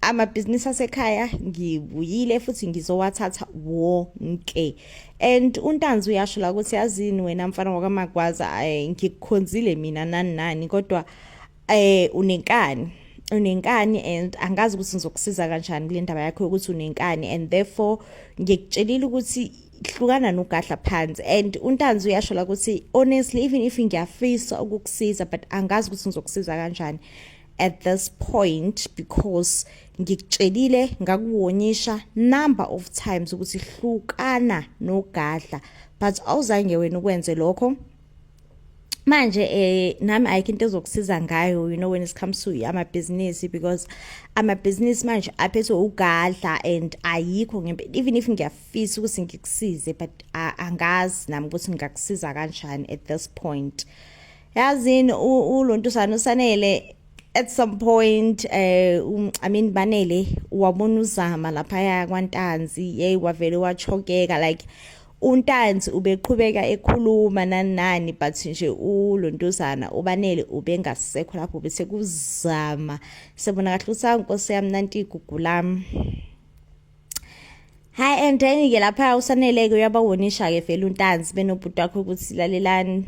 amabhizinisi asekhaya ngibuyile futhi ngizowathatha wonke and untanzi uyasho la ukuthi yazini wena mfana wakamagwaza eh, ngikukhonzile mina nani nani kodwa eh unenkani unenkani and angazi ukuthi ngizokusiza kanjani kule ndaba yakho ukuthi unenkani and therefore ngikutshelile ukuthi hlukana nogadla phansi and untanzi uyasho la ukuthi honestly even if ngiyafisa ukukusiza but angazi ukuthi ngizokusiza kanjani at this point because ngikutshelile ngakuwonyisha number of times ukuthi hlukana nogadla but awuzange wena ukwenze lokho manje eh nami ayikho into ezokusiza ngayo you know when it comes to ama business because ama business manje aphethe ugadla and ayikho ngempe even if ngiyafisa ukuthi ngikusize but angazi nami ukuthi ngingakusiza kanjani at this point yazini ulontusana usanele at some point eh um, i mean banele wabona uzama lapha ya kwantanzi hey wavele wachokeka like untanzi ubeqhubeka ekhuluma nanani but nje ulontuzana ubanele ubengasekho lapho bese kuzama sebona kahle usankosi yami nanti igugulami hayi and then-ke lapha usanele-ke uyabawonisha-ke vele untanzi benobhuti wakho ukuthi lalelani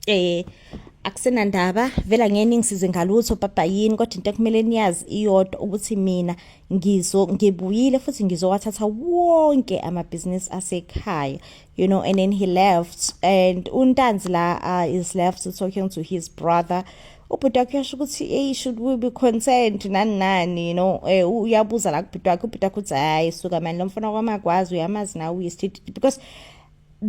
um akusenandaba vela ngeke ningisize ngalutho baba yini kodwa into ekumele niyazi iyodwa ukuthi mina ngizo ngibuyile futhi ngizowathatha wonke amabhizinisi asekhaya you know, and then he left. And Untanzi la uh, is left talking to his brother. ubhuti wakhe uyasho ukuthi eyi should we be concerned nani nani you know eh, uyabuza la kubhuti wakhe ubhuti wakhe uthi hayi suka mani lo mfana kwamakwazi uyamazi nawe uyisithithithi because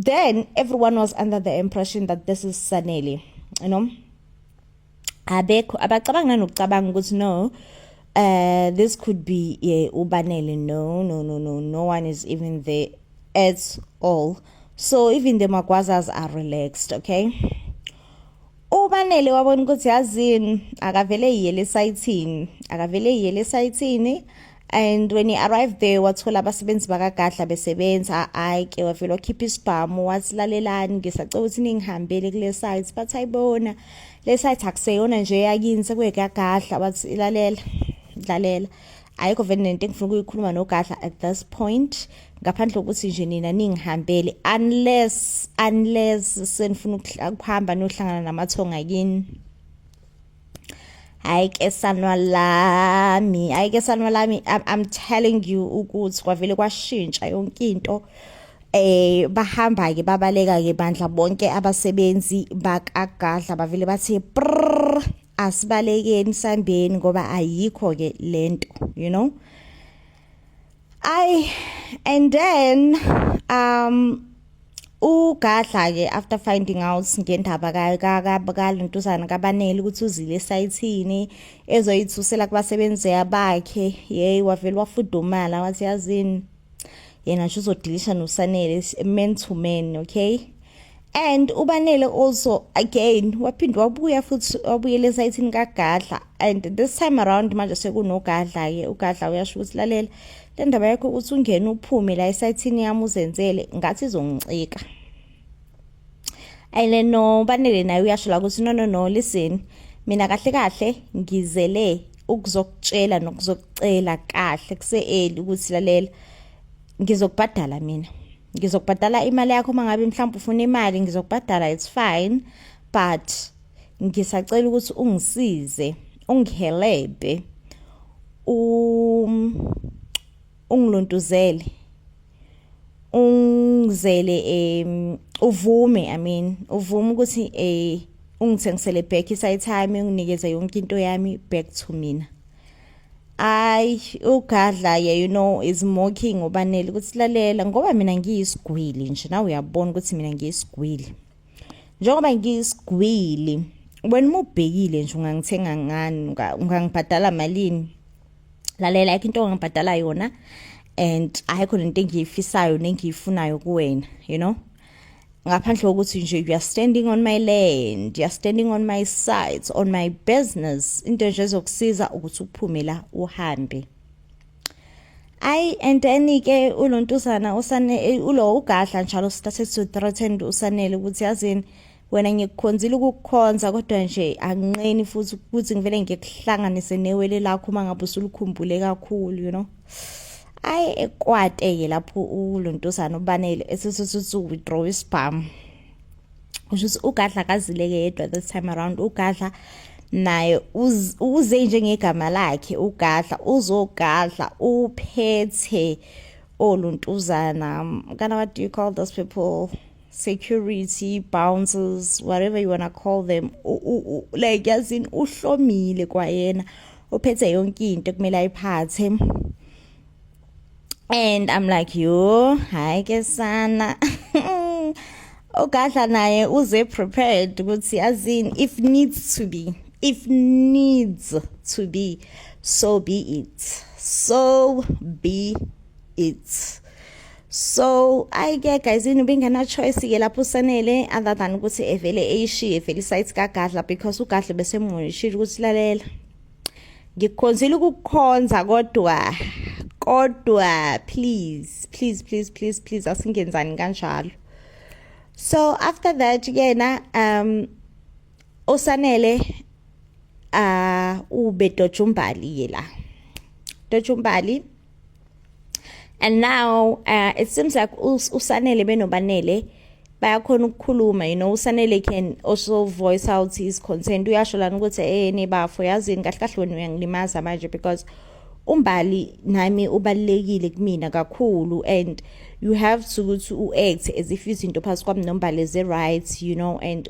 then everyone was under the impression that this is sanele you know abekho abacabanga nokucabanga ukuthi no uh this could be yeah, ubanele no no no no no one is even there at all so even the magwazas are relaxed okay ubanele wabona ukuthi yazini akavele yiyele esayithini akavele yiyele esayithini and when he arrived there wathola abasebenzi bakagadla besebenza hayi ke wavele wakhipha isibhamu wasilalelani ngisacela ukuthi ningihambele kule site bathi ayibona le site akuseyona nje yakini sekuyekagadla wathi ilalela dlalela ayikho vele nento engifuna ukuyikhuluma nogadla at this point ngaphandle kokuthi nje nina ningihambele unless unless senifuna ukuhamba nohlangana namathonga kini hayi ke sanwa lami hayi ke sanwa lami I'm, I'm telling you ukuthi kwavele kwashintsha yonke into eh bahamba ke babaleka ke bandla bonke abasebenzi bakagadla bavele bathi prrr asibalekeni sambeni ngoba ayikho ke lento you know Ay and then um ugadla ke after finding out ngendaba kalentuzana kabanele ukuthi uzile esayithini ezoyithusela kubasebenzi abakhe yeyi wavele wafudumala wathi yazini yena nje uzodilisha nosanele men to men okay and ubanele also again waphinde wabuya futhi wabuyela esayithini kagadla and this time around manje sekunogadla-ke ugadla uyasho ukuthi lalela le ndaba yakho ukuthi ungene uphume la esayithini yami uzenzele ngathi izongicika and then no banele naye uyasho la ukuthi no no no listen mina kahle kahle ngizele ukuzokutshela nokuzokucela kahle kuse-eli ukuthi lalela ngizokubhadala mina ngizokubhadala imali yakho uma ngabe mhlawumbe ufuna imali ngizokubhadala it's fine but ngisacela ukuthi ungisize ungihelebhe um ungilontuzele ungizele um uvume i mean uvume ukuthi um ungithengisele back isayi time unginikeze yonke into yami back to mina Ay ugadla yeah you know is mocking ubanele ukuthi lalela ngoba mina ngiyisigwili nje nawe uyabona ukuthi mina ngiyisigwili njengoba ngiyisigwili wena uma ubhekile nje ungangithenga ngani ungangibhadala malini lalela yakho into ongibhadala yona and ayikho lento engiyifisayo nengiyifunayo kuwena you know ngaphandle kokuthi nje you are standing on my land you are standing on my sides on my business into nje ezokusiza ukuthi uphume la uhambe ayi and then ke ulontuzana usane eh, ulo ugadla njalo started to threaten usanele ukuthi yazini wena ngikukhonzile ukukukhonza kodwa nje anginqeni futhi ukuthi ngivele ngikuhlanganise newele lakho uma ngabe usulikhumbule kakhulu you know ayi ekwate-ke lapho ulontosana ubanele esesesithi withdraw isibhamu kusho ukuthi ugadla kazileke yedwa this time around ugadla naye uze njengegama lakhe ugadla uzogadla uphethe oluntuzana kana what do you call those people security bouncers whatever you wanna call them like yazini uhlomile kwayena uphethe yonke into kumele ayiphathe and i'm like yo hayi ke sana ogadla naye uze prepared ukuthi azini if needs to be if needs to be so be it so be it's so ayi ke guys yini ubengena-choice ke lapho usanele other than ukuthi evele eyishiye vele isayithi kagadla because ugadla besemuyishile ukuthi lalela ngikukhonzile ukukukhonza kodwa kodwa please please please please please asingenzani kanjalo so after that yena um usanele uh ube dojumbali yela dojumbali and now uh, it seems like usanele benobanele bayakhona ukukhuluma you know usanele can also voice out his concern uyasho lana ukuthi eh nebafo yazini kahle kahle wena uyangilimaza manje because umbali nami ubalekile kumina kakhulu and you have to ukuthi uact as if izinto phakathi kwami nombali is right you know and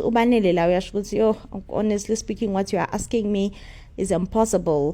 ubanele la uyasho ukuthi yo honestly speaking what you are asking me is impossible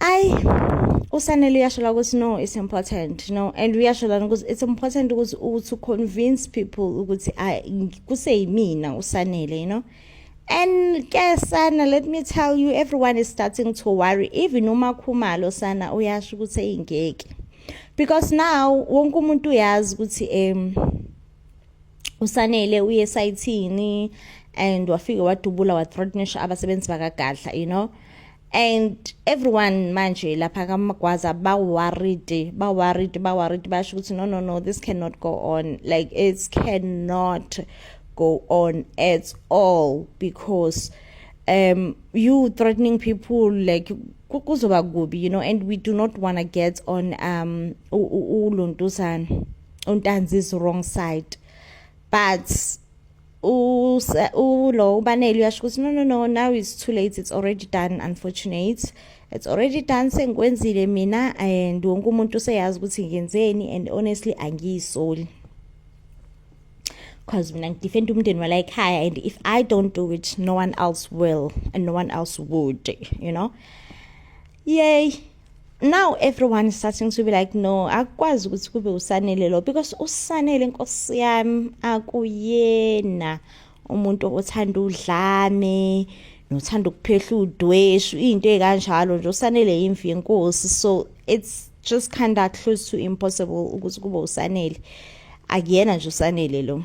ayi usanele uyashola ukuthi no it's important no and uyashola ukuthi it's important ukuthi uthi convince people ukuthi kuseyimina usanele you know and ke sana let me tell you everyone is starting to worry even umakhumalo sana uyasho ukuthi eyingeke because now wonke umuntu uyazi ukuthi um usanele uye esayithini and wafike wadubula wathreatnisha abasebenzi bakagadla you know and everyone manje lapha kamagwaza baworried baworried baworried basho ukuthi no no no this cannot go on like it cannot go on at all because um you threatening people like kuzoba kubi you know and we do not want to get on um ulontuzana untanzi's wrong side but ulo ubaneli uyasho ukuthi no no no now it's too late it's already done unfortunate it's already done sengikwenzile mina and wonke umuntu useyazi ukuthi ngenzeni and honestly angiyisoli because mina ngidefend umndeni wala ekhaya and if i don't do it no one else will and no one else would you know yay now everyone is starting to be like no akukwazi ukuthi kube usanele lo because usanele inkosi yami akuyena umuntu othanda udlame nothanda ukuphehla udweshu into ekanjalo nje usanele imvi yenkosi so it's just kind of close to impossible ukuthi kube usanele akuyena nje usanele lo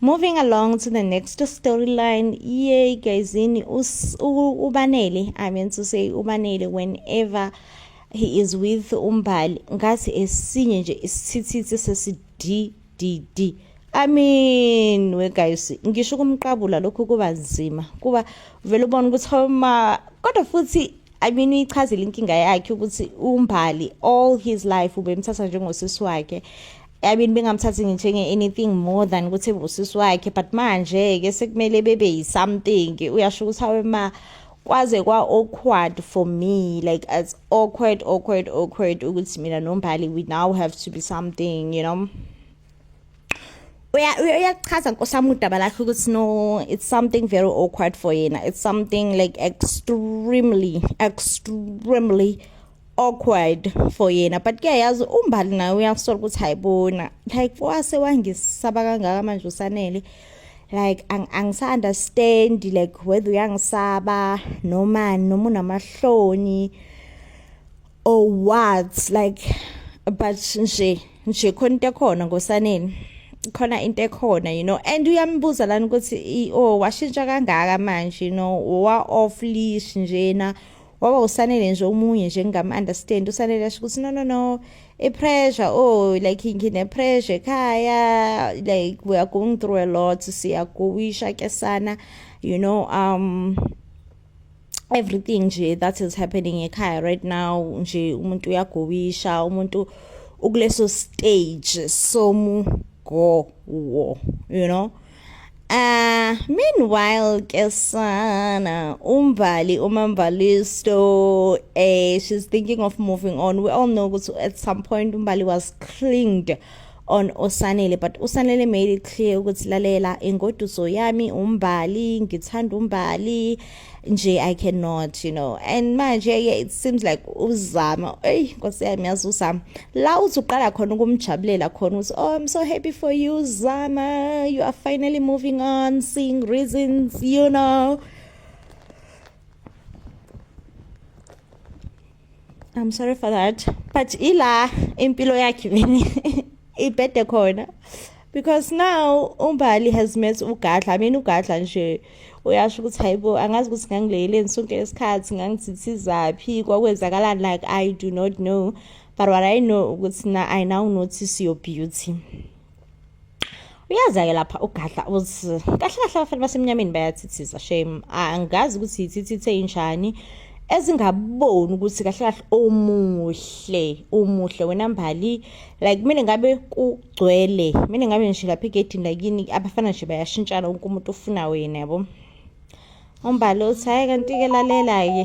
Moving along to the next storyline. Yay guys, in ubanele. I mean to say ubanele whenever he is with umbali ngathi esinye nje isithithithi sesi D D D. I mean we guys ngisho kumqabula lokho kuba nzima kuba vele ubona ukuthi homa kodwa futhi I mean uyichazile inkinga yakhe ukuthi umbali all his life ubemthatha njengosisi wakhe I mean bengamthathi ngithenge anything more than ukuthi ebusisi wakhe but manje ke sekumele bebe yi something uyasho ukuthi awe ma kwaze kwa awkward for me like as awkward awkward awkward ukuthi mina nombali we now have to be something you know uyachaza nkosami udaba lakhe ukuthi no it's something very awkward for yena it's something like extremely extremely awkward for yena but kuyayazi umbali naye uyakusola ukuthi hayibona like wase wangisaba kangaka manje usanele like angisaunderstand ang like whether uyangisaba noma noma unamahloni or what like but nje nje khona into ekhona ngosaneni khona into ekhona you know and uyambuza lana ukuthi oh washintsha kangaka manje you know wa off leash njena waba usanele nje omunye nje ngingam-understand usanele asho ukuthi no no no i-pressure oh like ngine-pressure ekhaya like we are going through a lot siyagowisha ke sana you know um everything nje that is happening ekhaya right now nje umuntu uyagowisha umuntu ukuleso stage somugowo you know Uh, meanwhile ke sana umvali umamvalisto eh she's thinking of moving on we all know ukuthi at some point umbali was clinged on usanele but usanele made it clear ukuthi lalela ingoduso yami umbali ngithanda umbali nje i cannot you know and manje yeah, it seems like uzama eyi nkosi yami yazi uzama la uthi uqala khona ukumjabulela khona uthi oh i'm so happy for you zama you are finally moving on seeing reasons you know I'm sorry for that but ila impilo yakhe vini ibhede khona because now umbali has met ugadla i mean ugadla nje uyasho ukuthi hayibo angazi ukuthi ngangileyeleni sonke lesikhathi ngangithithizaphi kwakwenzakalani like i do not know but what i know ukuthi na i now notice your beauty uyaza-ke lapha ugadla uthi kahle kahle abafana basemnyameni bayathithiza shame angazi ukuthi yithithithe injani ezingaboni ukuthi kahle kahle omuhle umuhle wena mbali like mina ngabe kugcwele mina ngabe nje lapha egedini lakini abafana nje bayashintshana wonke umuntu ufuna wena yabo umbali uthi hhayi kanti-ke lalela-ke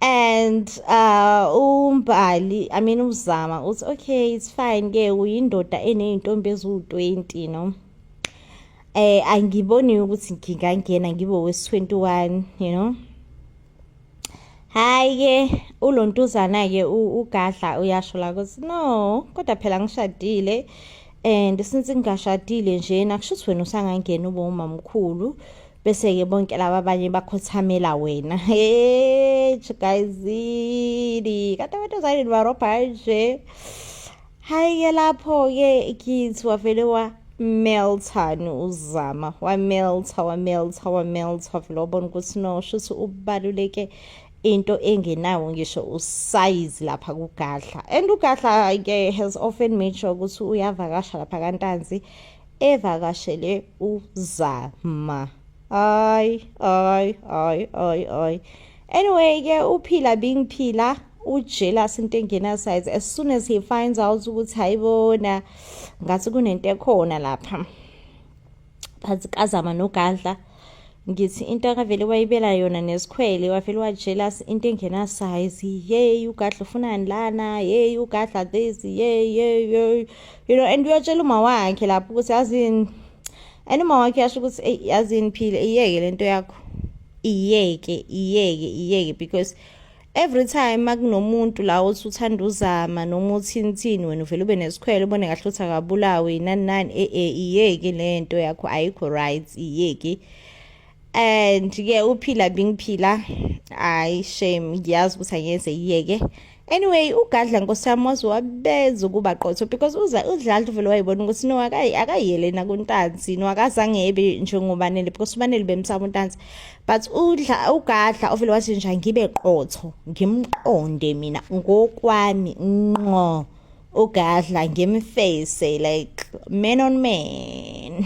and uh umbali i mean uzama uthi okay it's fine ke uyindoda eneyintombi eziwu-20 no eh angiboni ukuthi ngingangena ngibe wesi-21 you know hayi ke ulontuzana ke ugadla uyasho la ukuthi no kodwa phela ngishadile and since ngingashadile njena kusho ukuthi wena usangangena ube umamkhulu bese-ke bonke laba abanye bakhothamela wena hesh gayizini kade abantu ozayini barobha nje hhayi-ke lapho-ke kithi wavele wa melton uzama wameltha wameltha wameltha wavele wabona ukuthi no shuthi ubaluleke into engenawo ngisho usayizi lapha kugadla and ugadla-ke has often made sure ukuthi uyavakasha lapha kantanzi evakashele uZama ay ay ay ay ay anyway ke uphila bingiphila ujealous into engena size as soon as he finds out ukuthi hayibona ngathi kunento ekhona lapha phansi kazama nogadla ngithi into akavele wayibela yona nesikhwele wavele wajealous into engenasize yeyi ugadla ufunani lana yeyi ugadla this yeyi yeyi yeyi you know and uyatshela uma wakhe lapho ukuthi yazini and uma wakhe yasho ukuthi eyi yazini phile iyeke le nto yakho iyeke iyeke iyeke because Every time makunomuntu la othi uthanda uzama noma uthini thini wena uvele ube nesikhwele ubone kahle ukuthi akabulawi nani nani e e iyeki le nto yakho ayikho right iyeki and ke uphila bingiphila hayi shame ngiyazi ukuthi angeze iyeke anyway ugadla nkosi yami waze wabenza ukuba qotho because uza udlalda uvele wayibona ukuthi no akayele nakuntanzi no akazange ebe njengobanele because ubanele bemsaba untanzi but udla ugadla ovele wathi nje ngibe qotho ngimqonde mina ngokwami nqo ugadla ngimface like man on man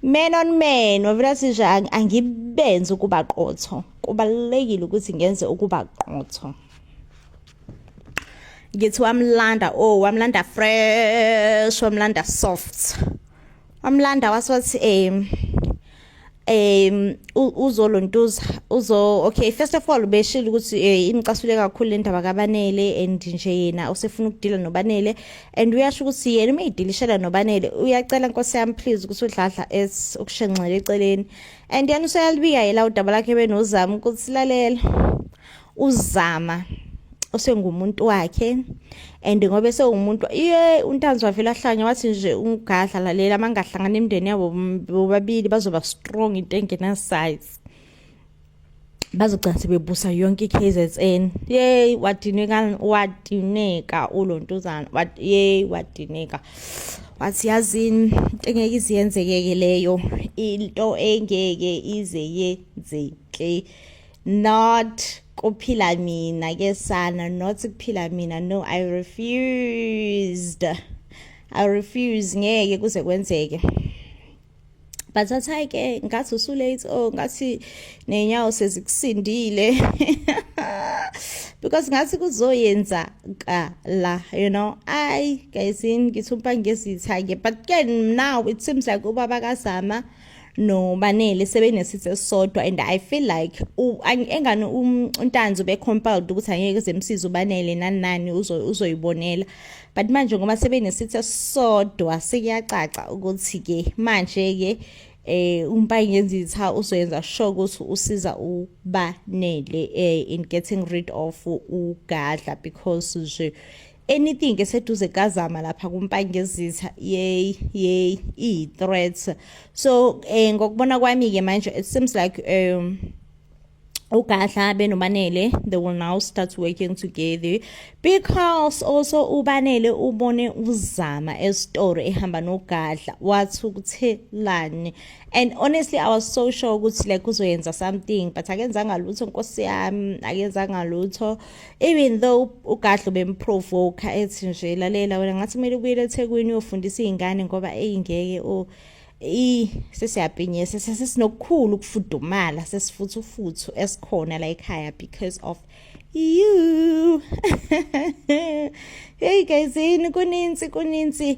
man on man wavele athi nje angibenze ukuba qotho kubalulekile ukuthi ngenze ukuba qotho ngithi wamlanda oh wamlanda fresh wamlanda soft wamlanda wasothi um um uzolontuza uzo okay first of all ubeshilo ukuthi eh, imcasule kakhulu le ndaba kabanele and nje yena usefuna ukudila nobanele and uyasho ukuthi yena uma idilishela nobanele uyacela nkosi yami please ukuthi udladla es ukushenxele eceleni and yena useyalibika yela udaba lakhe benozama ukuthi lalela uzama osengumuntu wakhe and ngoba esewumuntu iye untanzi wavele ahlanya wathi nje ungadla lalela mangahlangana imndeni yabo bobabili bazoba strong into engena size bazogcina sebebusa yonke i-KZN yey wadineka wadineka ulontuzana yey wadineka wathi yazini into engeke ize yenzekeke leyo into engeke ize yenzeke not kuphila mina ke sana not kuphila mina no i refused i refuse ngeke kuze kwenzeke but athi hayi ke ngathi usulate o oh, ngathi nenyawo sezikusindile because ngathi kuzoyenza kala you know ayi guys ngithi umpangezitha ke but ke now it seems like ubaba kazama no banele sebenesithe esisodwa and i feel like engani um, untanzi ube compelled ukuthi angeke zemsiza ubanele nani nani uzoyibonela but manje ngoba sebenesithe esisodwa sekuyacaca ukuthi ke manje ke eh umpayi ngenzitha uzoyenza sure ukuthi usiza ubanele eh in getting rid of ugadla because nje anything eseduze kazama lapha kumpangezitha yey yey iyi-threats so um ngokubona kwami-ke manje it seems like um ugadla benobanele they will now start working together because also ubanele ubone uzama esitoro ehamba nogadla wathi ukuthelani and honestly i was so sure ukuthi like uzoyenza something but akenzanga lutho nkosi yami akenzanga lutho even though ugadlo bemprovoke ethi nje lalela wena ngathi kumele ubuyele eThekwini uyofundisa izingane ngoba eyingeke o i sesiyabhinye sesinokukhulu ukufudumala sesifuthu futhu esikhona la ekhaya because of you hey guys yini kuninzi kuninzi